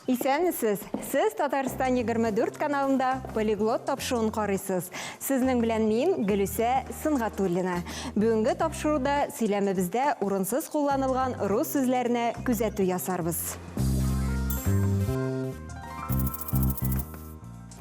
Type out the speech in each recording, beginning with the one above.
Исәнмесез! Сез Татарстан 24 каналында полиглот тапшыруын карыйсыз. Сезнең белән мин Гөлүсә Сынгатуллина. Бүгенге тапшыруда сөйләмебездә урынсыз кулланылган рус сүзләренә күзәтү ясарбыз.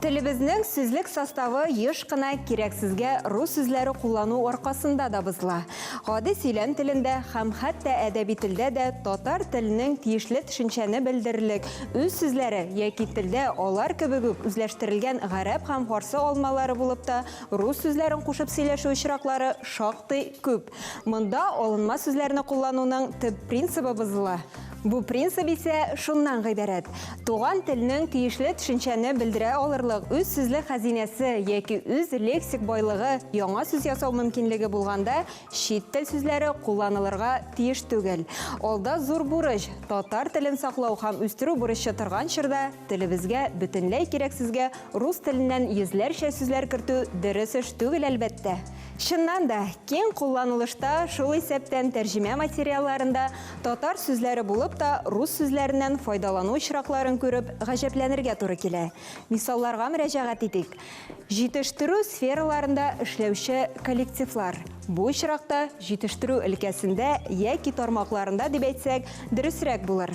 Телебезнең сүзлек составы еш кына кирәксезгә рус сүзләре куллану аркасында да бозыла. Гади сөйләм телендә һәм хәтта әдәби телдә дә татар теленең тиешле төшенчәне белдерерлек үз сүзләре яки телдә алар кебек үк үзләштерелгән гарәп һәм фарсы алмалары булып та рус сүзләрен кушып сөйләшү очраклары шактый күп. Монда алынма сүзләрне куллануның төп принцибы бозыла. Бу принцип исә шуннан гыйбарәт, туган телнең тиешле төшенчәне белдерә алырлык үз сүзлек хәзинәсе яки үз лексик байлыгы яңа сүз ясау мөмкинлеге булганда чит тел сүзләре кулланылырга тиеш түгел. Алда зур бурыч, татар телен саклау һәм үстерү бурычы торган чорда телебезгә бөтенләй кирәксезгә рус теленнән йөзләрчә сүзләр кертү дөрес эш түгел, әлбәттә. Чыннан да, киң кулланылышта, шул исәптән тәрҗемә материалларында татар сүзләре булып та, рус сүзләреннән файдалану очракларын күреп, гаҗәпләнергә туры килә. Мисалларга мөрәҗәгать итик. Җитештерү сфераларында эшләүче коллективлар, бу очракта җитештерү өлкәсендә яки тармакларында дип әйтсәк, дөресрәк булыр.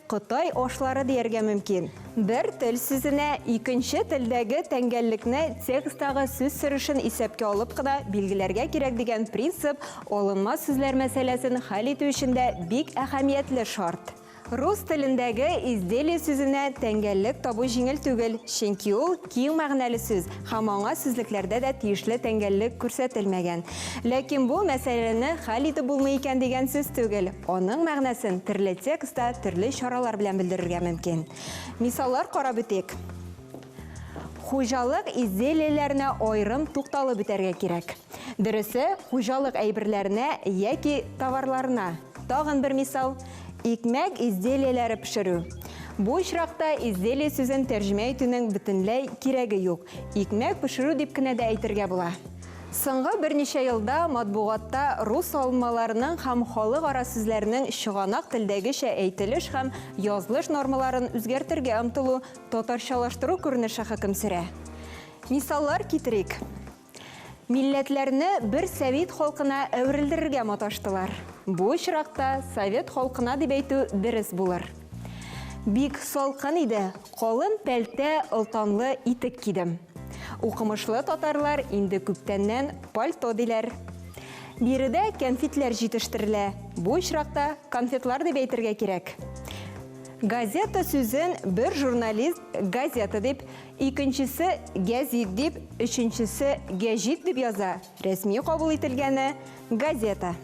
Кытай ашлары дияргә мөмкин. Бер тел сүзенә икенче телдәге тәңгәллекне текстагы сүз сөришен исәпкә алып кына билгеләргә кирәк дигән принцип алынма сүзләр мәсьәләсен хәл итү өчен дә бик әһәмиятле шарт. Рус телендәге изделие сүзенә тәңгәллек табу җиңел түгел, чөнки ул Киң мәгънәле сүз һәм аңа сүзлекләрдә дә тиешле тәңгәллек күрсәтелмәгән. Ләкин бу мәсьәләне хәл итеп булмый икән дигән сүз түгел, аның мәгънәсен төрле текстта төрле чаралар белән белдерергә мөмкин. Мисаллар карап үтик. Хуҗалык изделиеләренә аерым тукталып үтәргә кирәк. Дөресе, хуҗалык әйберләренә яки товарларына. Тагын бер мисал, икмәк изделияләре пешерү. Бу очракта изделие сүзен тәрҗемә итүнең бөтенләй кирәге юк, икмәк пешерү дип кенә дә әйтергә була. Соңгы берничә елда матбугатта рус алынмаларының һәм халыкара сүзләрнең чыганак телдәгечә әйтелеш һәм язлыш нормаларын үзгәртергә омтылу, татарчалаштыру күренеше хөкем сөрә. Мисаллар китерик. Милләтләрне бер сәвит халкына әверелдерергә маташтылар. Бу очракта совет халкына дип әйтү дерес булыр. Бик салкын иде, калын пәлтә, олтанлы итек кидем. Укымышлы татарлар инде күптәннән пальто диләр. Биредә кәнфитләр җитештерелә, бу очракта конфетлар дип әйтергә кирәк. Газета сүзен бер журналист газета дип, Икенчесе гәзит дип, өченчесе гәҗит дип яза, рәсми кабул ителгәне, газета.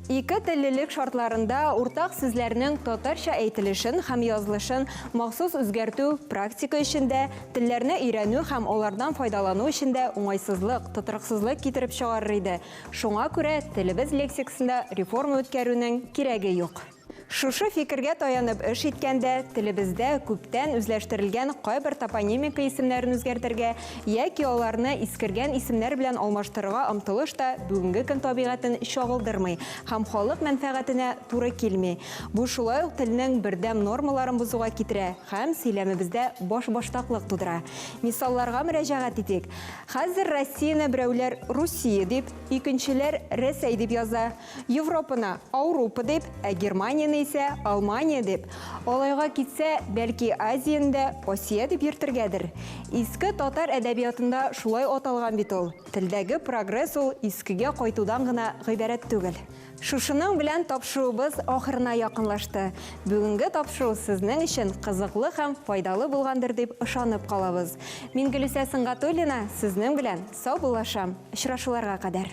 Ике теллелек шартларында уртак сүзләрнең татарча әйтелешен һәм язылышын махсус үзгәртү практика өчен дә, телләрне өйрәнү һәм алардан файдалану өчен дә уңайсызлык, тотрыксызлык китереп чыгарыр иде, шуңа күрә телебез лексикасында реформа үткәрүнең кирәге юк. Шушы фикергә таянып эш иткәндә, телебездә күптән үзләштерелгән кайбер топонимика исемнәрен үзгәртергә яки аларны искергән исемнәр белән алмаштырырга омтылыш та бүгенге көн табигатен чагылдырмый һәм халык мәнфәгатенә туры килми. Бу шулай ук телнең бердәм нормаларын бозуга китерә һәм сөйләмебездә башбаштаклык тудыра. Мисалларга мөрәҗәгать итик. Хәзер Россияне берәүләр Русия дип, икенчеләр Рәсәй дип яза. Европаны Аурупа дип, ә Германияне исә Алмания дип, алайга китсә, бәлки Азияне дә Асия дип йөртергәдер? Иске татар әдәбиятында шулай аталган бит ул. Телдәге прогресс ул искегә кайтудан гына гыйбарәт түгел. Шушының белән тапшыруыбыз ахырына якынлашты. Бүгенге тапшыру сезнең өчен кызыклы һәм файдалы булгандыр дип ышанып калабыз. Мин Гөлүсә Сөнгатуллина сезнең белән саубуллашам. Очрашуларга кадәр.